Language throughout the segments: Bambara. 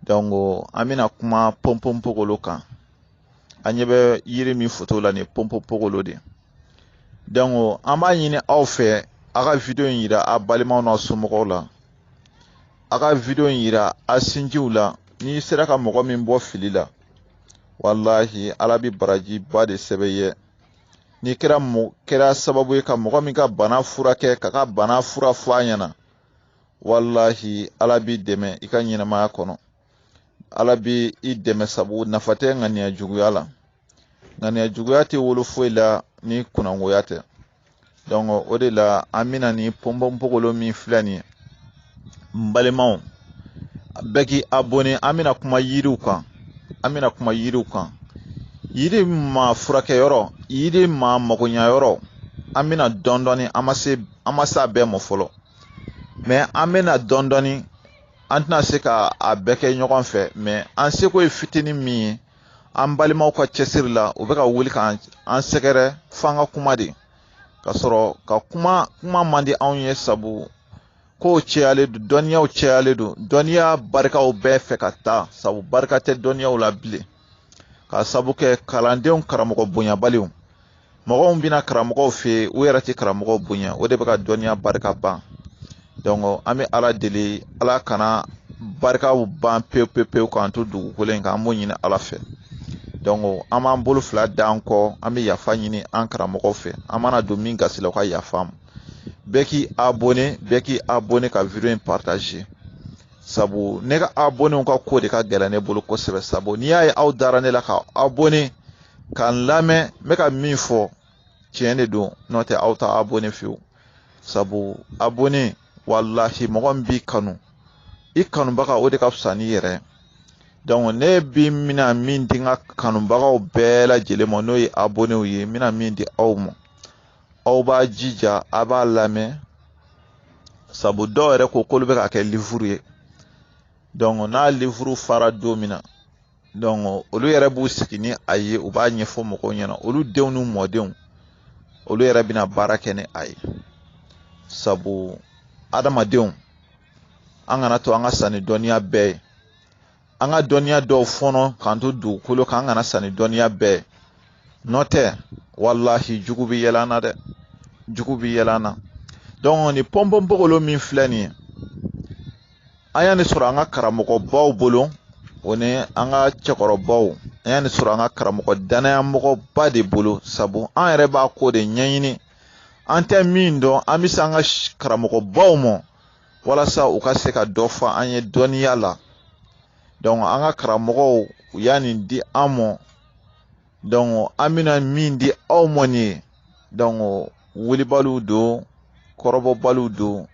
dɔnku an bɛna kuma pɔnpɔnpogolo kan an ɲɛ bɛ yiri min foto la nin ye pɔnpɔnpogolo de dɔnku an b'a ɲini aw fɛ a ka video in yira a balimaw n'a somɔgɔw la a ka video in yira a sinjiw la n'i sera ka mɔgɔ min bɔ fili la walahi ala bɛ barajiba de sɛbɛn i ye n'i kɛra sababu ye ka mɔgɔ min ka bana furakɛ ka ka bana fura fɔ a ɲɛna wallahi ala b'i dɛmɛ i ka ɲɛnɛmaya kɔnɔ ala bɛ i dɛmɛ sabu nafa tɛ ŋaniya juguya la ŋaniya juguya tɛ wolo foyi la ni kunangoya tɛ donc o de la an bɛna ni pɔnpɔnpogolo min filɛ nin ye n balimaw bɛɛ k'i abonné an bɛna kuma yiriw kan an bɛna kuma yiriw kan yiri ma furakɛyɔrɔ yiri ma magoɲayɔrɔ an bɛ na dɔɔnin dɔɔnin an ma se an ma se a bɛɛ ma fɔlɔ mɛ an bɛ na dɔɔnin dɔɔnin an tɛna se ka a bɛɛ kɛ ɲɔgɔn fɛ mɛ an seko ye fitinin min ye an balimaw ka cɛsiri la u bɛ ka wuli ka an sɛgɛrɛ f'an ka kuma de k'a sɔrɔ ka kuma kuma man di anw ye sabu kow cɛyalen don dɔnniyaw cɛyalen don dɔnniya barikaw bɛɛ fɛ ka taa sabu barika tɛ dɔnniyaw la bilen ka sabu kɛ kalandenw karamɔgɔ bonyabaliw mɔgɔw bɛ na karamɔgɔw fɛ yen u yɛrɛ tɛ karamɔgɔw bonya o de bɛ ka dɔnniya barika ban an bɛ ala deli ala kana barikaw ban pewu pewu pewu k'an to dugukolo in kan an b'o ɲini ala fɛ an b'an bolo fila da an kɔ an bɛ yafa ɲini an karamɔgɔw fɛ an mana don min gasi la u ka yafa an ma bɛɛ k'i abonné bɛɛ k'i abonné ka video in partager sabu ne ka abonnew ka ko de ka gɛlɛn ne bolo kosɛbɛ sabu n'i y'a ye aw dara ne la ka abonné ka n lamɛn n bɛ ka min fɔ tiɲɛ de don n'o tɛ aw t'aw abonné fewu sabu abonné walahi mɔgɔ min b'i kanu i kanubaga o de ka fisa n'i yɛrɛ ne bi n bɛna min di n ka kanubagaw bɛɛ lajɛlen ma n'o ye abonnew ye n bɛna min di aw ma aw b'a jija a b'a lamɛn sabu dɔw yɛrɛ ko k'olu bɛ k'a kɛ livuru ye donc n'a livuru fara don min na donc olu yɛrɛ b'u sigi ni a ye u b'a ɲɛfɔ mɔgɔw ɲɛna olu denw n'u mɔdenw olu yɛrɛ bɛna baara kɛ ni a ye sabu adamadenw an kan'a to an ka sa ni dɔnniya bɛɛ ye an ka dɔnniya dɔw fɔnɔ k'an to dugukolo kan an kana sa ni dɔnniya bɛɛ n'o tɛ walahi jugu bɛ yɛlɛ an na dɛ jugu bɛ yɛlɛ an na dɔnku ni pɔnpɔnpogolo min filɛ nin ye an ye nin sɔrɔ an ka karamɔgɔbaw bolo o ni an ka cɛkɔrɔbaw an ye nin sɔrɔ an ka karamɔgɔ dannaya mɔgɔba de bolo sabu an yɛrɛ b'a ko de ɲɛɲini an tɛ min dɔn an bɛ se an ka karamɔgɔbaw ma walasa u ka se ka dɔ fɔ an ye dɔnniya la donc an ka karamɔgɔw u y'a nin di an mɔ donc an bɛna min di aw mɔ nin ye donc wulibaliw don kɔrɔbɔbaliw don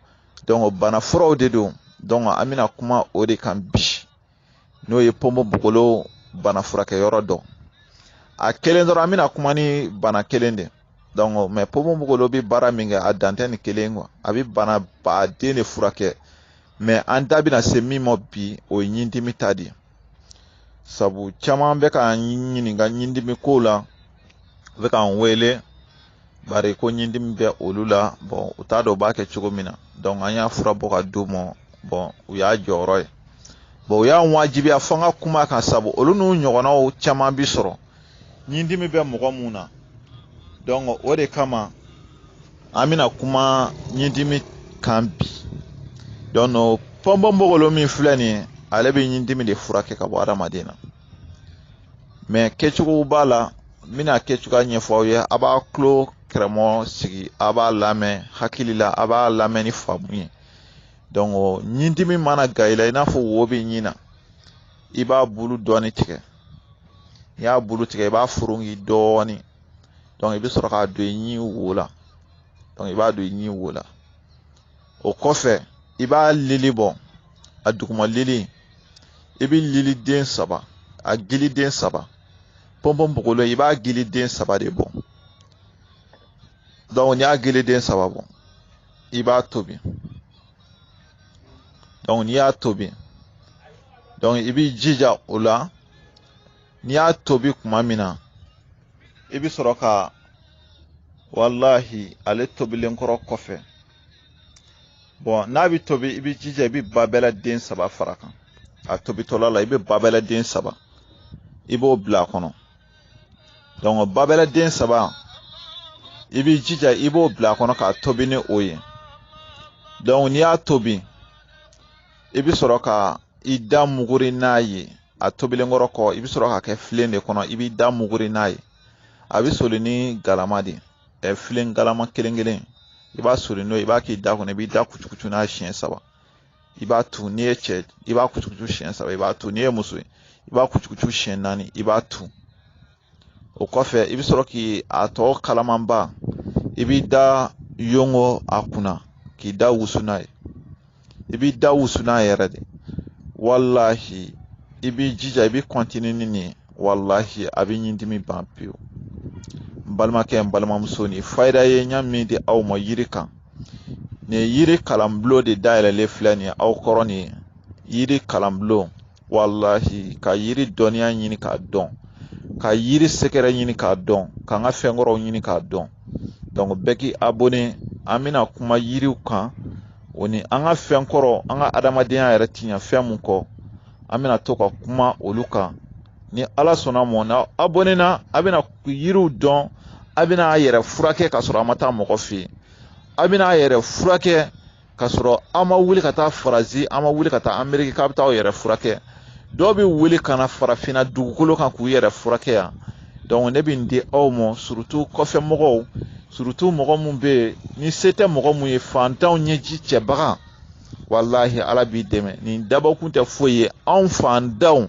donc bana furaw de don donc an bɛna kuma o de kan bi n'o ye ponponpogolo bana furakɛyɔrɔ dɔ a kelen dɔrɔn an bɛna kuma ni bana kelen de donc mɛ ponponpogolo bɛ baara min kɛ a dan tɛ nin kelen kɔ a bɛ bana baden de furakɛ mɛ an da bɛna se min ma bi o ye ɲindimi ta de ye sabu caman bɛ k'an ɲininka ɲindimi ko la u bɛ k'an wele bari ko ɲindimi bɛ olu la bɔn u t'a dɔn u b'a kɛ cogo min na donc an y'a fura bɔ ka d'u ma bɔn u y'a jɔyɔrɔ ye bɔn u y'a wajibiya fo an ka kuma a kan sabu olu n'u ɲɔgɔnnaw caman bi sɔrɔ ɲindimi bɛ mɔgɔ min na donc o de kama an bɛna kuma ɲindimi kan bi donc ponponpogolo min filɛ nin ye ale bɛ ɲindimi de furakɛ ka bɔ adamaden na mɛ kɛcogo b'a la n bɛna kɛcogoya ɲɛfɔ aw ye a b'a tulo kɛrɛmɔ sigi a b'a lamɛn hakili la a b'a lamɛn ni faamu ye donc ɲindimi mana kɛ i la i n'a fɔ wo bɛ ɲin na i b'a bulu dɔɔni tigɛ n'i y'a bulu tigɛ i b'a foronki dɔɔni i bɛ sɔrɔ k'a don i ɲin wo la i b'a don i ɲin wo la o kɔfɛ i b'a lili bɔ a duguma lili i bɛ lili den saba a gili den saba ponponpogolo i b'a gili den saba de bɔ donc n'i y'a gili den saba bɔ i b'a tobi donc n'i y'a tobi donc i b'i jija o la n'i y'a tobi kuma min na i bɛ sɔrɔ ka walahi ale tobilen kɔrɔ kɔfɛ bɔn n'a bɛ tobi i b'i jija i bɛ babɛla den saba fara a kan a tobitɔla la i bɛ babɛla den saba i b'o bila a kɔnɔ donc babɛla den saba i b'i jija i b'o bila a kɔnɔ k'a tobi ni o ye donc n'i y'a tobi i bɛ sɔrɔ ka i da muguri n'a ye a tobilen kɔrɔ kɔ i bɛ sɔrɔ k'a kɛ filen de kɔnɔ i b'i da muguri n'a ye a bɛ soli ni galama de ye filen galama kelen kelen i b'a soli n'o ye i b'a k'i da kɔnɔ i b'i da kucukucu n'a siɲɛ saba i b'a tu n'i ye cɛ i b'a kucukucu siɲɛ saba i b'a tu n'i ye muso ye i b'a kucukucu siɲɛ naani i b'a tu o kɔfɛ i bɛ sɔrɔ k'a tɔ kalamanba i b'i da yonko a kunna k'i da wusu n'a ye i b'i da wusu n'a yɛrɛ de walahi i b'i jija i bɛ kɔntini ni nin walahi a bɛ ɲindimi ban pewu n balimakɛ n balimamuso nin fayida ye n y'a min di aw ma yiri kan nin yiri kalanbulon de dayɛlɛlen filɛ nin ye aw kɔrɔ nin yiri kalanbulon walahi ka yiri dɔnniya ɲini k'a dɔn ka yiri secret ɲini k'a dɔn k'an ka fɛn kɔrɔw ɲini k'a dɔn donc bɛɛ k'i abonné an bɛna kuma yiriw kan o ni an ka fɛn kɔrɔ an ka adamadenya yɛrɛ ti ɲɛ fɛn mun kɔ an bɛna to ka kuma olu kan ni ala sɔnna ma n'a abonné na a bɛna yiriw dɔn a bɛna a yɛrɛ furakɛ ka sɔrɔ a ma taa mɔgɔ fɛ yen a bɛna a yɛrɛ furakɛ k'a sɔrɔ a ma wuli ka taa faransi a ma wuli ka taa ameriki k'a bɛ taa aw yɛrɛ furakɛ dɔw bɛ wuli ka na farafinna dugukolo kan k'u yɛrɛ furakɛ yan ne bɛ nin di aw ma surutu kɔfɛ mɔgɔw surutu mɔgɔ minnu bɛ yen ni se tɛ mɔgɔ minnu ye fantanw ɲɛji cɛbaga walahi ala b'i dɛmɛ nin dabɔkun tɛ foyi ye anw fantanw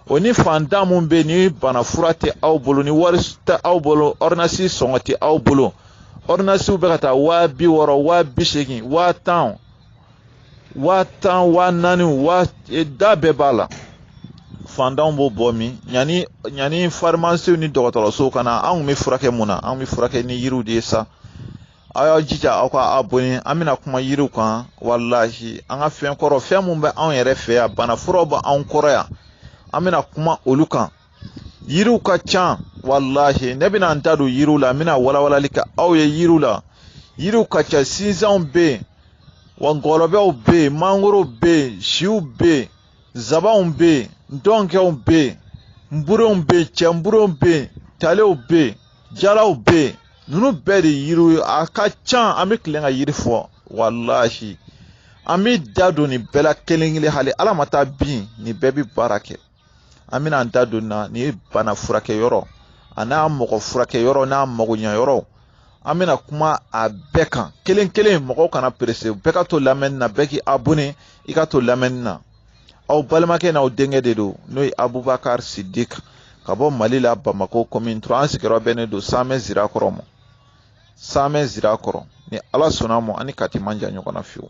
o ni fantan minnu bɛ yen ni bana fura tɛ aw bolo ni wari tɛ aw bolo ɔridinasi sɔngɔ tɛ aw bolo ɔrdinasiw bɛ ka taa waa bi wɔɔrɔ waa bi seegin waa tan waa tan waa naani waa e, da bɛɛ b'a la fantanw b'o bɔ min yanni yanni farimasiw ni dɔgɔtɔrɔsow ka na an kun bɛ furakɛ mun na an bɛ furakɛ ni yiriw de ye sa aw y'aw jija aw ka abonné an bɛna kuma yiriw kan walahi an ka fɛn kɔrɔ fɛn mun bɛ anw yɛrɛ fɛ yan bana furaw bɛ anw kɔrɔ yan an bɛna kuma olu kan yiriw ka ca walahi ne bɛna n da don yiriw la n bɛna walawalali kɛ aw ye yiriw la yiriw ka ca sinjanw bɛ yen wa ngɔlɔbɛw bɛ yen mangorow bɛ yen siw bɛ yen zabanw bɛ yen ntɔnkɛw bɛ yen nburenw bɛ yen cɛnburenw bɛ yen talew bɛ yen jalaw bɛ yen ninnu bɛɛ de yiriw ye a ka ca an bɛ tilen ka yiri fɔ walahi an bɛ da don nin bɛɛ la kelen kelen hali ala ma taa bin nin bɛɛ bɛ baara kɛ an bɛna an da don nin na nin ye bana furakɛ yɔrɔ an'a mɔgɔ furakɛ yɔrɔ n'a magoɲɛ yɔrɔ an bɛna kuma a bɛɛ kan kelen kelen mɔgɔw kana perese bɛɛ ka to lamɛnni na bɛɛ k'i abonne i ka to lamɛnni na aw balimakɛ n'aw denkɛ de don n'o ye abubakari sidik ka bɔ mali la bamako kɔmini turuwa an sigiyɔrɔ bɛnnen don samɛ sirakɔrɔ ma samɛ sirakɔrɔ ni ala sɔnna ma ani kati man jan ɲɔgɔn na fiyewu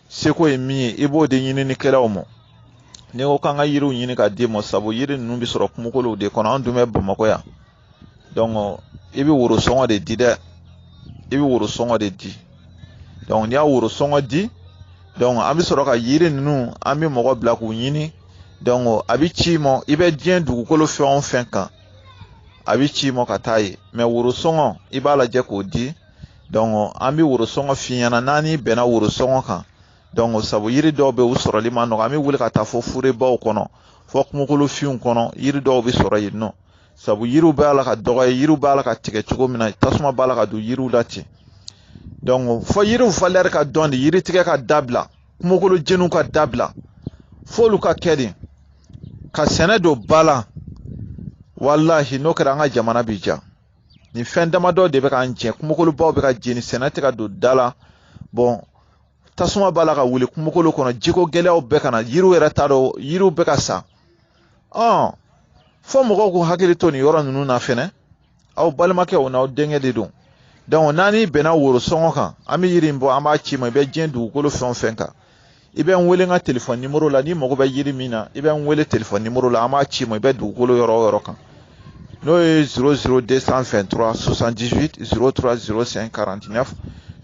seko ye min ye i b'o di ɲininikɛlaw ma n'i ko k'an ka yiriw ɲini ka d'i ma sabu yiri ninnu bɛ sɔrɔ kungokolow de kɔnɔ an dun bɛ bamakɔ yan dɔnku i bɛ woro sɔngɔ de di dɛ i bɛ woro sɔngɔ de di dɔnku n'i y'a woro sɔngɔ di dɔnku an bɛ sɔrɔ ka yiri ninnu an bɛ mɔgɔ bila k'u ɲini dɔnku a bɛ ci i ma i bɛ diɲɛ dugukolo fan o fan kan a bɛ ci i ma ka taa yen mɛ woro sɔngɔ i b'a lajɛ k'o di an bɛ worosɔngɔ f'i ɲɛna n'an n'i bɛnna worosɔngɔ kan sabu yiri dɔw bɛ u sɔrɔli man nɔgɔn an bɛ wuli ka taa fɔ forɛbaw kɔnɔ fɔ kungokolofinw kɔnɔ yiri dɔw bɛ sɔrɔ yen nɔ sabu yiriw b'a la ka dɔgɔya yiriw b'a la ka tigɛ cogo min na tasuma b'a la ka don yiriw la ten fɔ yiriw valeur ka dɔn de yiri tigɛ ka dabila kungokolo jeniw ka dabila f'olu ka kɛ de ka sɛnɛ don ba la walahi n'o kɛra an ka jamana bi diya nin fɛn damadɔ de bɛ k'an jɛ kungokolobaw bɛ ka jeni sɛnɛ tɛ ka don da la bɔn tasuma b'a la ka wuli kungokolo kɔnɔ jiko gɛlɛyaw bɛ ka na yiriw yɛrɛ t'a dɔn yiriw bɛ ka sa ɔn fɔ mɔgɔw k'u hakili to nin yɔrɔ ninnu na fɛnɛ aw balimakɛ o n'aw denkɛ de don donc n'an bɛnna worosɔngɔ kan an bɛ yiri in bɔ an b'a c'i ma i bɛ diɲɛ dugukolo fɛn o fɛn kan i bɛ n wele n ka telefɔni nimoro la n'i mago bɛ yiri min na i bɛ n wele telefɔni nimoro la an b'a c'i ma i bɛ dugukolo yɔrɔ o yɔrɔ kan n'o ye 00223 78 03 05 49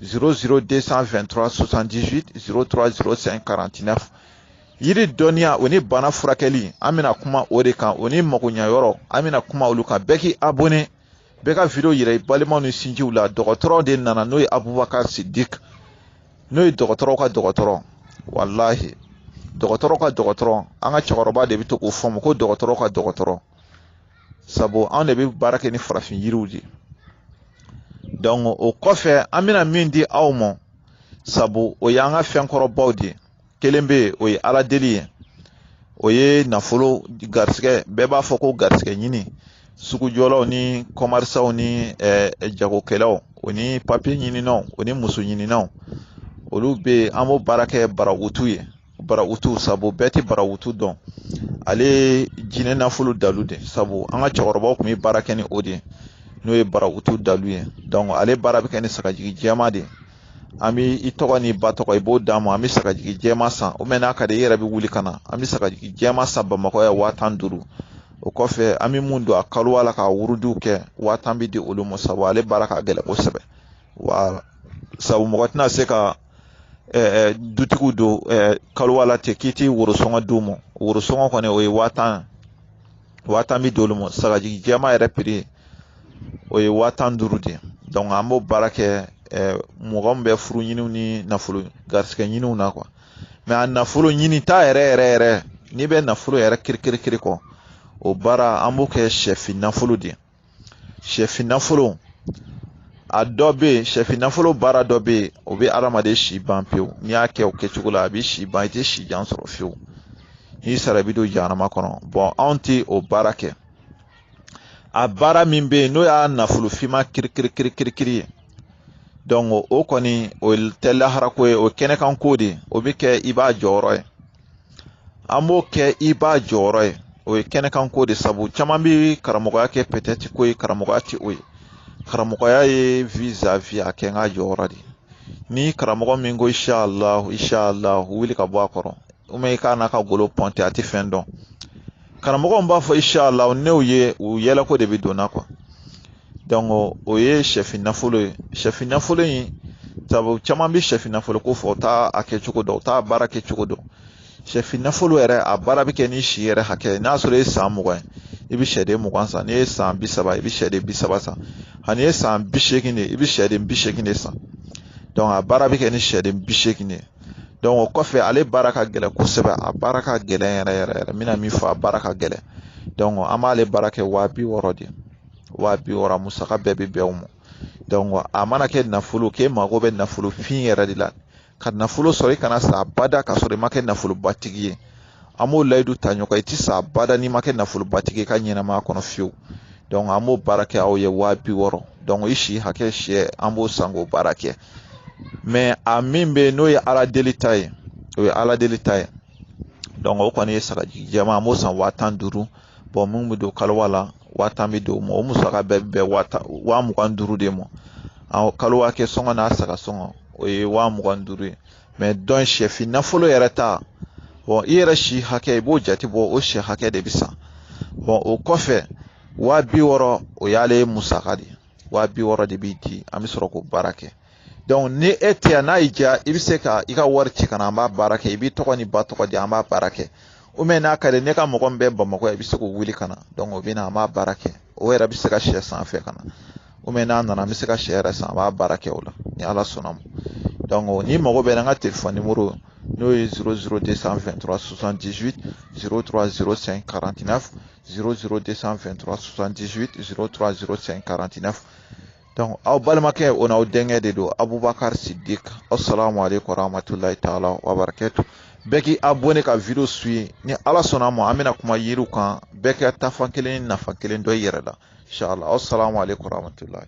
00223 78 03 05 49 yiri dɔnniya o ni bana furakɛli an bɛna kuma o de kan o ni magoɲɛyɔrɔ an bɛna kuma olu kan bɛɛ k'i abonné bɛɛ ka video yira i balimaw ni sinjiw la dɔgɔtɔrɔ de nana n'o ye abubakar sidik n'o ye dɔgɔtɔrɔw ka dɔgɔtɔrɔ walahi dɔgɔtɔrɔ ka dɔgɔtɔrɔ an ka cɛkɔrɔba de bɛ to k'o fɔ n ma ko dɔgɔtɔrɔ ka dɔgɔtɔrɔ sabu anw de bɛ baara kɛ ni farafin yiriw de o kɔfɛ an bɛna min di aw ma sabu o y'an ka fɛn kɔrɔbaw de ye kelen bɛ yen o ye ala deli ye o ye nafolo garisɛgɛ bɛɛ b'a fɔ ko garisɛgɛ ɲini sugujɔlaw ni kɔmɛrisanw ni jagokɛlaw o ni papiye ɲininnaw o ni muso ɲininnaw olu bɛ yen an b'o baara kɛ barawutu ye barawutu sabu bɛɛ tɛ barawutu dɔn ale ye jinɛ nafolo dalu de sabu an ka cɛkɔrɔbaw tun bɛ baara kɛ ni o de ye n'o ye barawutu dalu ye ale baara bɛ kɛ ni sagajigi jɛman de ye an bɛ i tɔgɔ n'i ba tɔgɔ i b'o d'an ma an bɛ sagajigi jɛman san o mɛn n'a ka di i yɛrɛ bɛ wuli ka na an bɛ sagajigi jɛman san bamakɔ yan waa tan duuru o kɔfɛ an bɛ mun don a kaluwa la ka wurudiw kɛ waa tan bɛ di olu ma sabu ale baara ka gɛlɛn kosɛbɛ wa sabu mɔgɔ tɛna se ka dutigiw don kaluwa la ten k'i tɛ worosɔngɔ d'u ma worosɔngɔ kɔni o ye waa tan waa tan bi d'olu ma sagajigi jɛman yɛrɛ prix o ye waa tan duuru de ye donc an b'o baara kɛ eh, mɔgɔ min bɛ furu ɲiniw ni nafolo garisigɛ ɲiniw na kuwa mɛ a nafolo ɲini ta yɛrɛ yɛrɛ yɛrɛ n'i bɛ nafolo yɛrɛ kirikirikiri kɔ o baara an b'o kɛ sɛfin nafolo de ye sɛfin nafolo a dɔ bɛ yen sɛfin nafolo baara dɔ bɛ yen o bɛ adamaden si ban pewu n'i y'a kɛ o kɛcogo la a bɛ si ban i tɛ si jan sɔrɔ fiyewu n'i sara i bɛ don jahanama kɔnɔ bɔn anw tɛ o baara kɛ a baara min bɛ yen n'o y'a nafolo finma kirikirikirikiri ye donc o kɔni o tɛ laharako ye o kɛnɛkanko de o bɛ kɛ i b'a jɔyɔrɔ ye an b'o kɛ i b'a jɔyɔrɔ ye o ye kɛnɛkanko de sabu caman bɛ karamɔgɔya kɛ pɛtɛti ko ye karamɔgɔya tɛ o ye karamɔgɔya ye vizavi a kɛ n k'a jɔyɔrɔ de ni karamɔgɔ min ko inshallah inshallah wuli ka bɔ a kɔrɔ walima i k'a n'a ka golo pɔnte a tɛ fɛn dɔn karamɔgɔ b'a fɔ inshallah n'o ye u yɛlɛko de bɛ donna kuwa o ye sɛfin nafolo ye sɛfin nafolo in sabu caman bɛ sɛfin nafolo ko fɔ u t'a a kɛcogo dɔn u t'a baara kɛcogo dɔn sɛfin nafolo yɛrɛ a baara bɛ kɛ n'i si yɛrɛ hakɛ n'a sɔrɔ e ye san mugan ye i bɛ sɛden mugan san n'i ye san bi saba i bɛ sɛden bi saba san n'i ye san bi seegin de i bɛ sɛden bi seegin de san a baara bɛ kɛ ni sɛden bi seegin de ye o kɔfɛ ale baara ka gɛlɛn kosɛbɛ a baara ka gɛlɛn yɛrɛ yɛrɛ yɛrɛ n bɛna min fɔ a baara ka gɛlɛn an b'ale baara kɛ waa bi wɔɔrɔ de waa bi wɔɔrɔ a musaka bɛɛ bɛ bɛn o ma a mana kɛ nafolo k'e mago bɛ nafolo fin yɛrɛ de la ka nafolo sɔrɔ i kana sa bada ka sɔrɔ i ma kɛ nafolobatigi ye an b'o layidu ta ɲɔgɔn ye i tɛ sa bada n'i ma kɛ nafolobatigi ye i ka ɲɛnamaya kɔnɔ fiyewu an b'o baara kɛ aw ye waa bi wɔɔrɔ i si hakɛ sɛ an b'o san k'o baara kɛ a min bɛ yen n'o ye ala deli ta ye o ye ala deli ta ye o kɔni ye sagajigi jɛman an b'o san waa tan duuru min bɛ don kaluwa la waa tan bɛ di o ma o musaka bɛɛ bɛ bɛn waa tan waa mugan duuru de ma kaluwa kɛ sɔngɔ n'a saga sɔngɔ o ye waa mugan duuru ye mɛ donc sɛfin nafolo yɛrɛ ta bɔn i yɛrɛ si hakɛ i b'o jate bɔ o sɛ hakɛ de bɛ san bɔn o kɔfɛ waa bi wɔɔrɔ o y'ale musaka de ye waa bi wɔɔrɔ de bɛ di an bɛ sɔrɔ k'o baara kɛ ni e tɛ yan n'a y'i diya i bɛ se ka i ka wari ci ka na an b'a baara kɛ i b'i tɔgɔ n'i ba tɔgɔ di an b'a baara kɛ walima n'a ka di n'i ka mɔgɔ min bɛ bamakɔ i bɛ se k'o wele ka na o bɛ na an b'a baara kɛ o yɛrɛ bɛ se ka sɛ san fɛ ka na walima n'a nana an bɛ se ka sɛ yɛrɛ san an b'a baara kɛ o la ni ala sɔnna a ma n'i mago bɛ n ka telefɔni nimoro n'o ye 00 223 78 03 05 49 0022378030549 donc aw balimakɛ o n'aw denkɛ de don abubakar sidik assalamu aleykum warahmatulahi taala wabarakatu bɛɛ k'i abonné ka video suivi ni ala sɔnna a ma an bɛna kuma yiriw kan bɛɛ k'i taafan kelen n'i nafan kelen dɔn i yɛrɛ la inshallah assalamu aleykum warahmatulahi